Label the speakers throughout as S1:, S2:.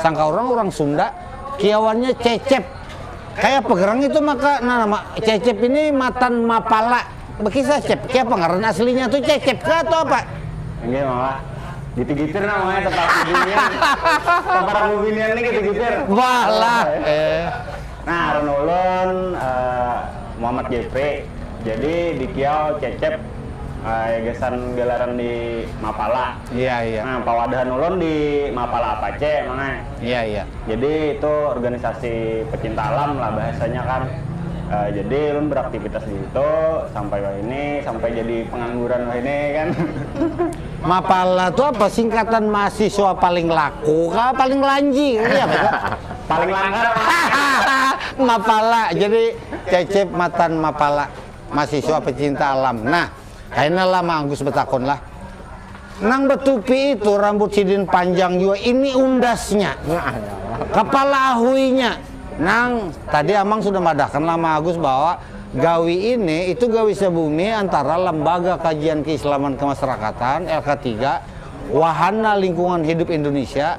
S1: Sangka urang, urang Sunda kiawannya cecep. Kaya apa gerang itu maka nah nama cecep ini matan mapala. Bakisah cep, kaya apa ngaran aslinya tu cecep kah atau apa? Inggih mama, gitu gitir nah mama tempat bibinian, tempat bibinian ni gitu gitir. Balah eh. Nah aran ulun Muhammad Jeffrey, jadi di Kiau Cecep ai gasan galaran di Mapala. Iya iya. Nah pawadahan ulun di Mapala Apache mang ai. Iya iya. Jadi itu urganisasi pecinta alam lah bahasanya kan. Jadi ulun beraktivitas di situ sampai wahini, sampai jadi pengangguran wahini kan. Mapala tu apa singkatan mahasiswa paling laku kah paling lanji kah iya apa tu? Paling langgar hahahaa mapala jadi cecep matan mapala masiswa pecinta alam nah kaina lah mang agus betakun lah nang betupi itu rambut sidin panjang jua ini undasnya kepala ahuinya nang tadi amang sudah madahkan lah mang agus bahwa gawi ini itu gawi sebumi antara lembaga kajian keislaman kemasyarakatan lk tiga wahana lingkungan hidup indonesia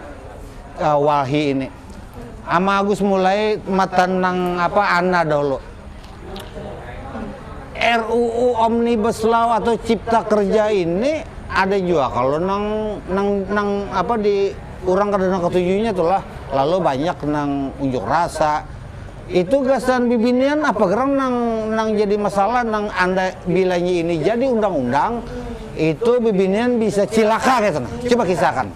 S1: Wahi ini ama Agus mulai matan nang apa ana dahulu RUU Omnibus Law atau Cipta Kerja ini ada juga kalau nang nang nang apa di orang kada nang ketujunya itulah lalu banyak nang unjuk rasa itu gasan bibinian apa gerang nang nang jadi masalah nang anda bilanya ini jadi undang-undang itu bibinian bisa cilaka gitu nah coba kisahkan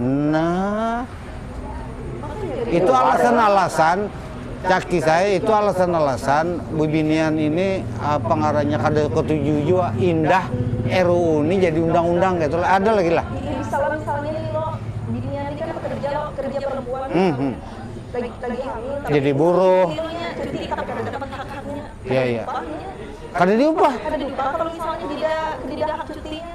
S1: Nah, itu alasan-alasan caki saya itu alasan-alasan bibinian ini apa ngarannya kada ketujuh jua indah RUU ini jadi undang-undang gitu lah. Ada lagi lah. Iya, misalnya-misalnya nih lo binian ini kan pekerja lo kerja perempuan hmm, hmm. lagi lagi hamil jadi buruh cuti tapi kada dapat hak haknya iya iya kada diupah kada diupah kalau misalnya tidak tidak hak cutinya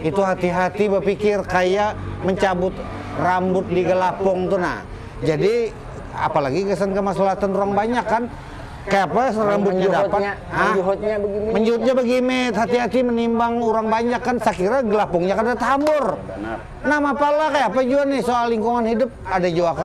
S1: Itu hati-hati bapikir kaya mencabut rambut di galapung tu nah. Jadi apalagi gasan kamaslahatan urang banyak kan. Kayapa rambutnya dapat. Hah? Menjuhutnya bagimit. Hati-hati menimbang urang banyak kan sakira galapungnya kada tahambur. Nah mapala kayapa jua nih soal lingkungan hidup ada jua kan.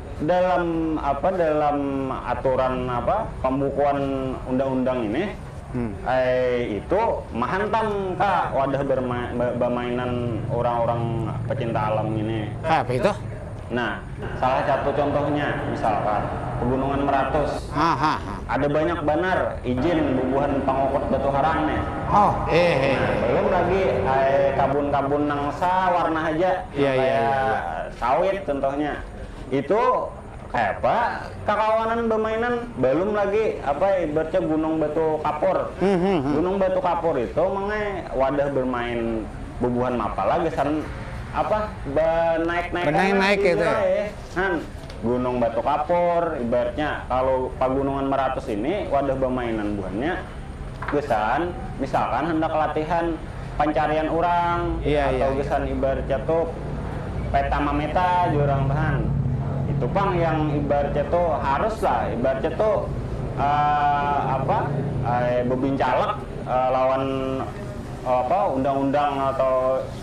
S1: Dalam apa dalam aturan apa pambukuan undang-undang ini ai itu mahantam ka wadah bamainan urang-urang pacinta alam ngini. Kayapa itu? Nah, salah satu contohnya misalkan Pegunungan Meratus. Ada banyak banar ijin bubuhan pangukut batu harang nih. Nah, balum lagi ai kabun-kabun nang sawarna haja nang kaya sawit contohnya. itu kayapa kakawanan bamainan balum lagi apa ibaratnya gunung batu kapur gunung batu kapur itu mangnya wadah bermain bubuhan mapala gasan apa banaik naik banaik itu ya han gunung batu kapur ibaratnya kalu pagunungan maratus ini wadah bamainan buhannya. gasan misalkan handak latihan pancarian urang atau gasan ibaratnya tu peta mameta jar urang tu han itu pang yang ibaratnya tu harus lah ibaratnya tu apa bebincalak lawan apa undang-undang atau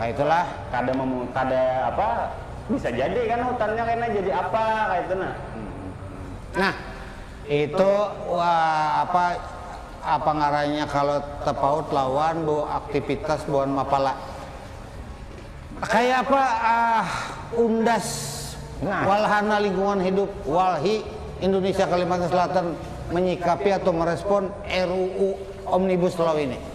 S1: Nah itulah kada memu, kada apa bisa jadi kan hutannya kena jadi apa kayak itu nah. Nah itu wah, apa apa ngarannya kalau tepaut lawan bu aktivitas buhan mapala kayak apa ah undas nah. walhana lingkungan hidup walhi Indonesia Kalimantan Selatan menyikapi atau merespon RUU Omnibus Law ini.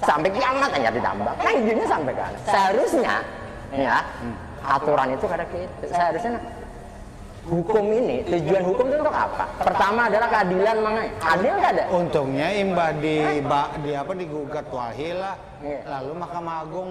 S1: sampai kiamat hanya ditambah nah izinnya sampai kan seharusnya ya aturan itu kada gitu seharusnya hukum ini tujuan hukum itu untuk apa pertama adalah keadilan mangai adil kada untungnya imbah di, di apa digugat wahil lah iya. lalu mahkamah agung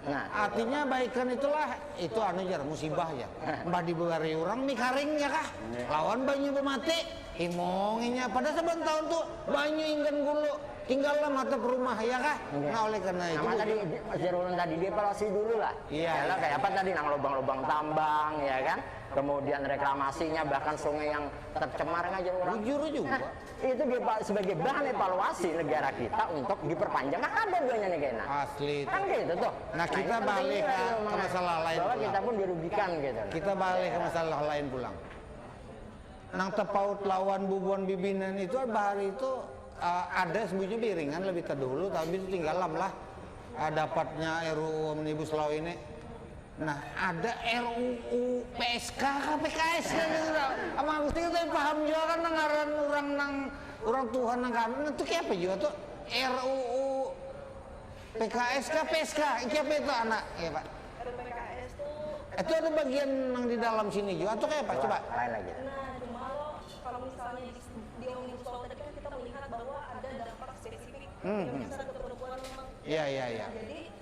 S1: Nah. Artinya baikan itulah itu anu jar musibah ya. Mbah dibari orang mie karing ya kah? Lawan banyu bemati. Himonginya pada saban tahun tuh banyu inggan gulu tinggal lah mata perumah ya kah? Nah oleh karena itu. Sama tadi jar orang tadi dievaluasi dulu lah. Iya. Yalah kayak apa tadi nang lubang-lubang tambang ya kan? Kemudian reklamasinya bahkan sungai yang tercemar ngajar orang. Bujur juga. itu sebagai bahan evaluasi negara kita untuk diperpanjang kan ada duanya nih kena asli itu. kan gitu tuh nah, nah kita nah, balik ke, ke masalah lain bahwa pulang. kita pun dirugikan gitu kita balik ke masalah lain pulang nang terpaut lawan bubuan bibinan itu bahari itu uh, ada sebutnya biringan lebih terdulu tapi itu tinggalam lah uh, dapatnya RUU Omnibus Law ini Nah, ada RUU PSK ka PKS ka gitu nah. Amal Gusti kita paham jua kan nang ngaran urang nang urang tuha nang kami nah tu kaya apa jua tu RUU PKS ka PSK iki apa itu anak ya Pak? RUPKS tu Itu ada bagian nang di dalam sini jua atau kaya apa coba? Lain lagi. Nah, cuma lo kalau misalnya di, di omnibus law tadi kan kita melihat bahwa ada dampak spesifik yang bisa ke perempuan memang. Iya, iya, iya. Jadi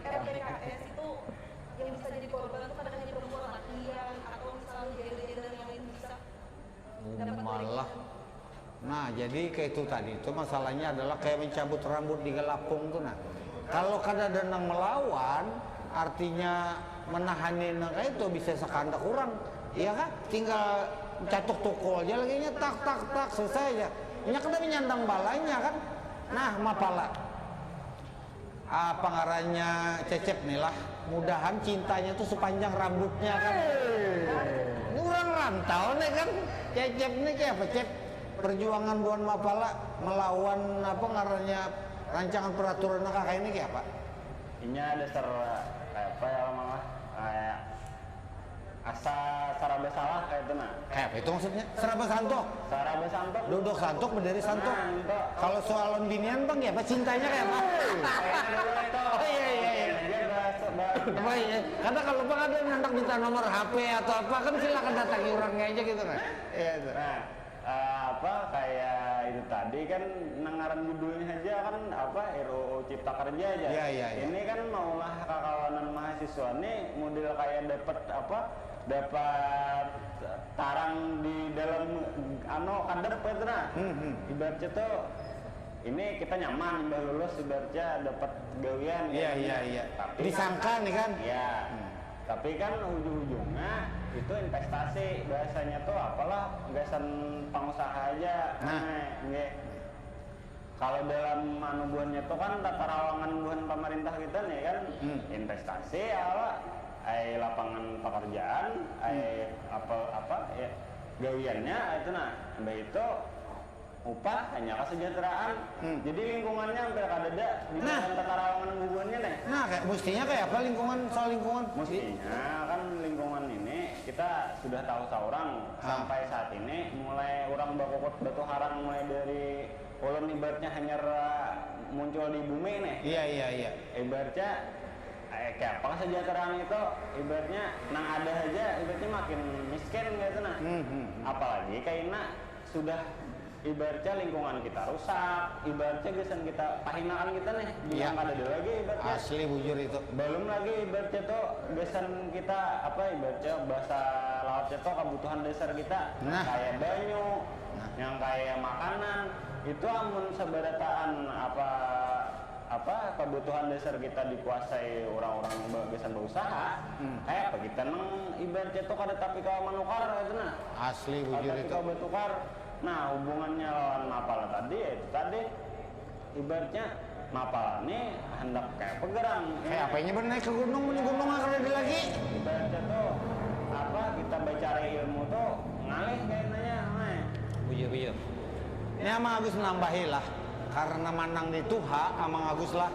S1: PPKS itu yang bisa jadi korban itu kada hanya perempuan lakian atau misalnya gender-gender yang lain bisa dapat Malah, nah jadi kayak itu tadi itu masalahnya adalah kayak mencabut rambut di galapung tuh nah. Kalau kada ada nang melawan, artinya menahani nang kayak itu bisa sekandak urang, iya kah? Tinggal catuk tukul ja lagi nya tak tak tak selesai ja. Inya kada menyandang balanya kan. Nah mapala. Apa ngarannya Cecep nih lah, mudahan cintanya tuh sepanjang rambutnya kan. Ini urang rantau nih kan Cecep nih kaya apa Cep? Perjuangan buhan mapala melawan apa ngarannya rancangan peraturan nang kakaini kaya apa? Inya dasar kaya apa ya orang nang lah, kaya. Asa saraba salah kaya tu nah. Kaya apa itu maksudnya? Saraba santuk? Saraba santuk. Duduk santuk, berdiri santuk. Kalau soal lawan binian bang, kaya apa cintanya kaya apa? Kada kalu pang ada nang handak minta nomor HP atau apa kan silakan datangi urangnya aja gitu nah. apa kaya itu tadi kan nang ngaran judulnya haja kan apa RUU Cipta Kerja jar. Ya, ya, ya. Ini kan maulah kakawanan mahasiswa ni mudel kaya dapat apa dapat tarang di dalam ano kadap kaitu nah. Ibaratnya tu ini kita nyaman imbah lulus ibaratnya dapat gawian kaya Iya, iya, iya. Tapi. Disangka nih kan. Ya. Tapi kan ujung-ujungnya itu investasi bahasanya tuh apalah gasan pangusaha haja ai nggih. Kalo dalam anu buhannya tuh kan tata rawangan buhan pamarintah kita nih kan investasi ala ai lapangan pakarjaan ai apa gawiannya ai tu nah imbah itu. Upah, hanya kasajateraan. Jadi lingkungannya hampir kadada dibanding katarawangan bubuhan nya ne. Nah, mustinya kaya apa lingkungan, soal lingkungan? Mustinya kan lingkungan ini kita sudah tahu saurang sampai saat ini mulai urang bakukut batu harang mulai dari ulun ibaratnya hanyar muncul di bumi ne. Iya, iya, iya. Ibaratnya kaya apa kasajateraan itu, ibaratnya nang ada haja ibaratnya makin miskin kayatu nah. Apalagi kaina Sudah ibaratnya lingkungan kita rusak, ibaratnya gasan kita pahinaan kita nih binian Iya. kadada lagi ibaratnya. Asli bujur itu. Balum lagi ibaratnya tu gasan kita apa ibaratnya bahasa lautnya tu kabutuhan dasar kita nang Nah. kaya banyu, Nah. nang kaya makanan itu amun sabarataan apa apa kabutuhan dasar kita dikuasai urang-urang ba gasan bausaha, Kaya apa kita nang ibarat nya tu kada tapi kawa manukar kaytu nah. Asli bujur itu. Kada tapi kawa batukar. Nah hubungannya lawan mapala tadi ya itu tadi. Ibarat nya mapala ni handak kaya apa garang. Kaya apa inya banaik ka gunung mun di gunung ha kadada lagi. Ibarat nya tu apa kita bacari ilmu tu ngalih kayna nya ha. Bujur bujur. Ni Amang Agus manambahi lah. Karna manang di tuha Amang Agus lah.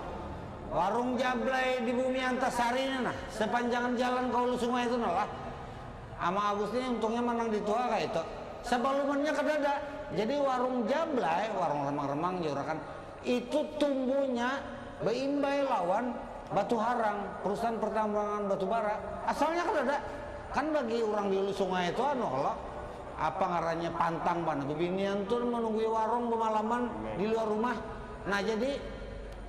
S1: Warung Jablay di Bumi Antasari ni nah, sepanjangan jalan ka Hulu Sungai tu nah lah. Amang Agus ni untungnya manang di tua kaitu. Sabalumannya kadada. Jadi warung Jablay, warung remang-remang diurakan, itu tumbuhnya baimbai lawan Batu Harang, perusahaan pertambangan batu bara. Asalnya kadada. Kan bagi urang di Hulu Sungai tu anu kalo, apa ngarannya, pantang banar bibinian tu manunggui warung bamalaman di luar rumah. Nah jadi.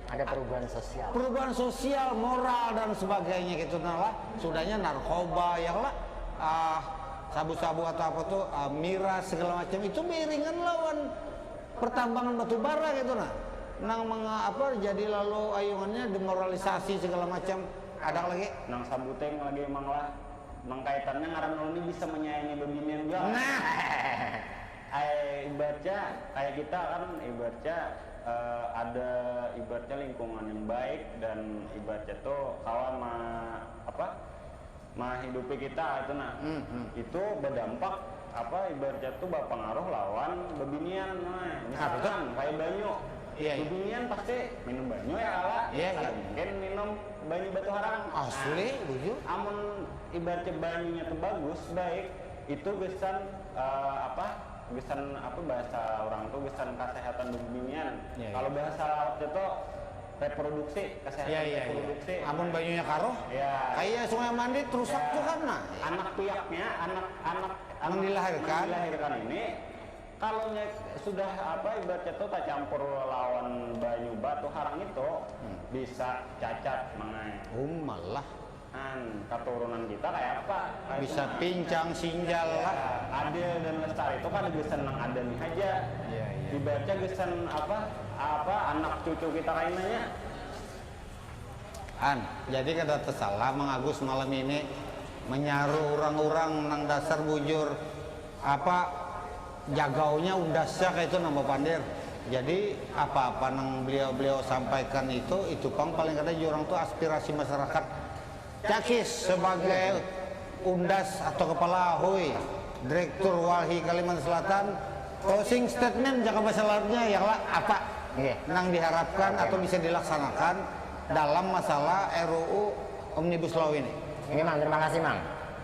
S1: Ada perubahan sosial. Perubahan sosial, moral dan sebagainya gitu nah lah. Sudahnya narkoba ya lah. Uh, sabu-sabu atau apa tuh uh, miras segala macam itu beiringan lawan pertambangan batu bara gitu nah. Nang menga, apa jadi lalu ayungannya demoralisasi segala macam. Ada lagi? Nang sabuteng lagi emang lah. Nang kaitannya ngaran ulun ini bisa menyayangi bebinian jua. Nah. Ibaratnya kayak kita kan ibaratnya ada ibaratnya lingkungan yang baik dan ibaratnya tu kawa ma apa mahidupi kita itu nah itu badampak apa ibaratnya tu bapangaruh lawan babinian misalkan kayak banyu babinian pasti minum banyu ya kala kada mungkin minum banyu batu harang amun ibaratnya banyunya tu bagus baik itu gasan. apa gasan apa bahasa orang tuh gasan kesehatan bebinian. Ya, Kalau ya. bahasa laut itu reproduksi, kesehatan ya, ya, ya. reproduksi. Ya. Amun banyunya karuh, ya. kayak Sungai Mandi terusak ya. tuh kan nah. Ya. Anak piaknya, anak anak anak dilahirkan. dilahirkan ini kalau sudah apa ibaratnya tuh tak campur lawan banyu batu harang itu hmm. bisa cacat mengenai. Oh malah. An, katurunan kita kaya apa? Kaya Bisa cuma pincang sinjal lah. Adil dan Lestari tu kada gasan nang ada ni haja. Dibaca gasan apa apa anak cucu kita kaina nya. An, jadi kada tasalah Mang Agus malam ini manyaru urang-urang nang dasar bujur Apa jagaunya undasnya kaitu nang bapandir. Jadi apa-apa nang beliau-beliau sampaikan itu, itu pang paling kada jar urang tu aspirasi masarakat. Cakis sebagai undas atau kepala ahui Direktur Walhi Kalimantan Selatan, closing statement jaka masalahnya ialah apa nang diharapkan atau bisa dilaksanakan dalam masalah RUU Omnibus Law ini. Oke Mang, terima kasih Mang.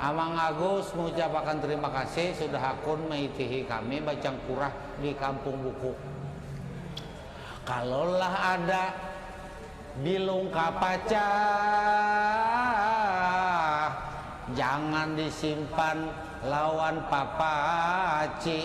S1: Amang Agus maucapakan terima kasih sudah hakun maitihi kami bacangkurah di Kampung Buku. Kalolah ada bilung kapacah, jangan disimpan lawan papaci.